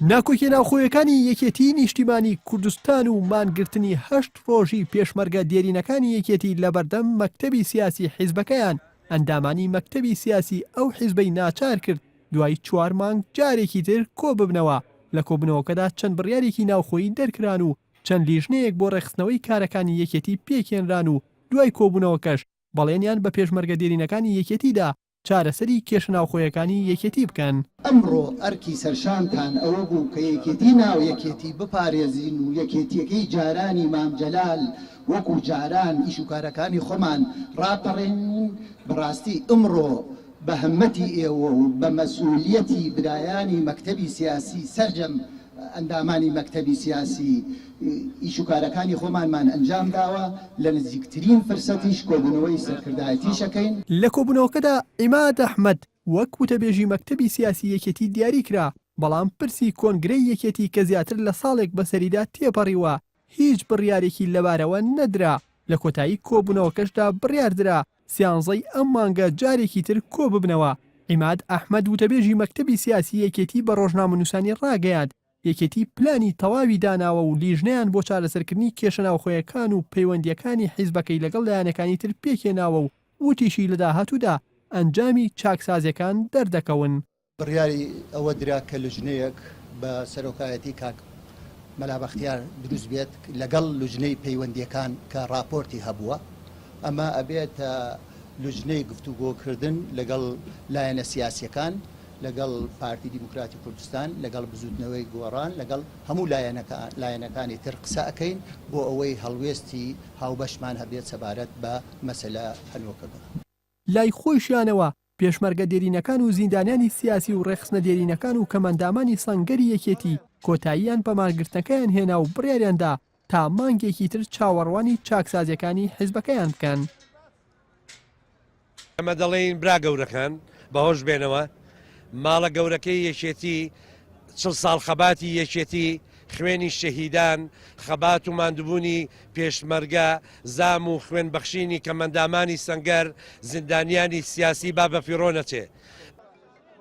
ناکۆکیە ناوخۆیەکانی یەکێتی نیشتیمانی کوردستان و مانگرتنی هەشت ڕۆژی پێشمەرگە دێرینەکانی یەکێتی لەبەردەم مەکتەبی سیاسی حیزبەکەیان ئەندامانی مەکتەبی سیاسی ئەو حیزبەی ناچار کرد دوای چوار مانگ جارێکی تر کۆ ببنەوە لە کۆبنەوەکەدا چەند بڕیارێکی ناوخۆیی دەرکران و چەند لیژنەیەک بۆ ڕێخستنەوەی کارەکانی یەکێتی پێکێنران و دوای کۆبوونەوەکەش بەڵێنیان بە پێشمەرگە دێرینەکانی یەکێتیدا چارەسەری کێشە ناوخۆیەکانی یەکێتی بکەن. ئەمڕۆ ئەرکی سەرشانتان ئەوە بوو کە یەکێتی ناو یەکێتی بپارێزین و یەکێتیەکەی جارانی مام جەلال وەکو جاران ئیش و کارەکانی خۆمان ڕاپەڕێنین، بەڕاستی ئمڕۆ بە هەمەتی ئێوە و بە مەسئولیەتی برایانی مەکتەبی سیاسی سەرجەم ئەندامانی مەکتەبی سیاسی ئیش و کارەکانی خۆمانمان ئەنجام داوە، لە نزیکترین فرسەتیش کۆبوونەوەی سەرکردایەتیش ئەکەین. لە کۆبوونەوەکەدا عیماد ئەحمەد وەک وتەبێژی مەکتەبی سیاسی یەکێتی دیاری کرا، بەڵام پرسی کۆنگرەی یەکێتی کە زیاتر لە ساڵێک بەسەریدا تێپەڕیوە هیچ بڕیارێکی لەبارەوە نەدرا، لە کۆتایی کۆبوونەوەکەشدا بڕیاردرا سیانزەی ئەم مانگە جارێکی تر کۆببنەوە. عیماد ئەحمەد وتەبێژی مەکتەبی سیاسی یەکێتی بە رۆژنامەنووسانی راگەیاند، یەکێتی پلانی تەواوی داناوە و لیژنەیان بۆ چارەسەرکردنی کێشە ناوخۆیەکان و پەیوەندییەکانی حیزبەکەی لەگەڵ لایەنەکانی تر پێکهێناوە و وتیشی لە داهاتوودا ئەنجامی چاکسازییەکان دەردەکەون. بڕیاری ئەوە درا کە لوجنەیەک بە سەرۆکایەتی کاک مەلا بەختیار دروست بێت لەگەڵ لوجنەی پەیوەندیەکان کە ڕاپۆرتی هەبووە ئەمە ئەبێتە لوجنەی گفتوگۆکردن لەگەڵ لایەنە سیاسیەکان لەگەڵ پارتی دیموکراتی کوردستان لەگەڵ بزوتنەوەی گۆڕان لەگەڵ هەموو لایەنەکان لایەنەکانی تر قسە ئەکەین بۆ ئەوەی هەڵوێستی هاوبەشمان هەبێت سەبارەت بە مەسەلە هەنوکەکە. لای خۆیشیانەوە، پێشمەرگە دێرینەکان و زیندانیانی سیاسی و ڕێکخستنە دێرینەکان و کەمئەندامانی سەنگەری یەکێتی کۆتاییان بە مانگرتنەکەیان هێنا و بڕیاریان دا تا مانگێکی تر چاوەڕوانی چاکسازییەکانی حزبەکەیان بکەن. ئێمە دەڵێین برا گەورەکان بەهۆش بێنەوە، ماڵە گەورەکەی یەکێتی، چڵ ساڵ خەباتی یەکێتی، خوێنی شەهیدان، خەبات و ماندوبونی پێشمەرگە، زام و خوێن بەخشینی کەمئەندامانی سەنگەر، زیندانیانی سیاسی با بە فیڕۆ نەچێ.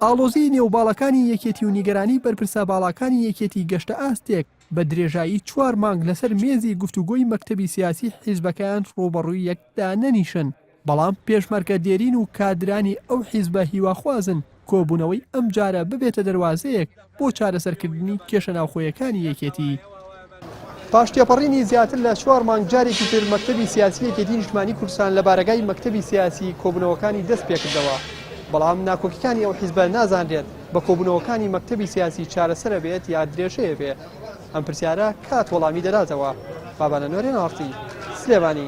ئاڵۆزیی نێو باڵەکانی یەکێتی و نیگەرانیی بەرپرسە باڵاکانی یەکێتی گەشتە ئاستێک، بە درێژایی چوار مانگ لەسەر مێزی گفتوگۆی مەکتەبی سیاسی حیزبەکەیان ڕووبەڕووی یەک دانەنیشن، بەڵام پێشمەرگە دێرین و کادرانی ئەو حیزبە هیواخوازن کۆبوونەوەی ئەمجارە ببێتە دەروازەیەک بۆ چارەسەرکردنی کێشە ناوخۆیەکانی یەکێتی. پاش تێپەڕینی زیاتر لە چوار مانگ جارێکی تر مەکتەبی سیاسی یەکێتی نیشتمانی کوردستان لە بارەگای مەکتەبی سیاسی کۆبوونەوەکانی دەست پێکردەوە بەڵام ناکۆکیکانی ئەو حیزبە نازانرێت بە کۆبوونەوەکانی مەکتەبی سیاسی چارەسەرە بێت یا درێژەیە بێ ئەم پرسیارە کات وەڵامی دەداتەوە بابانە نۆرێن ئاڕتی سلێمانی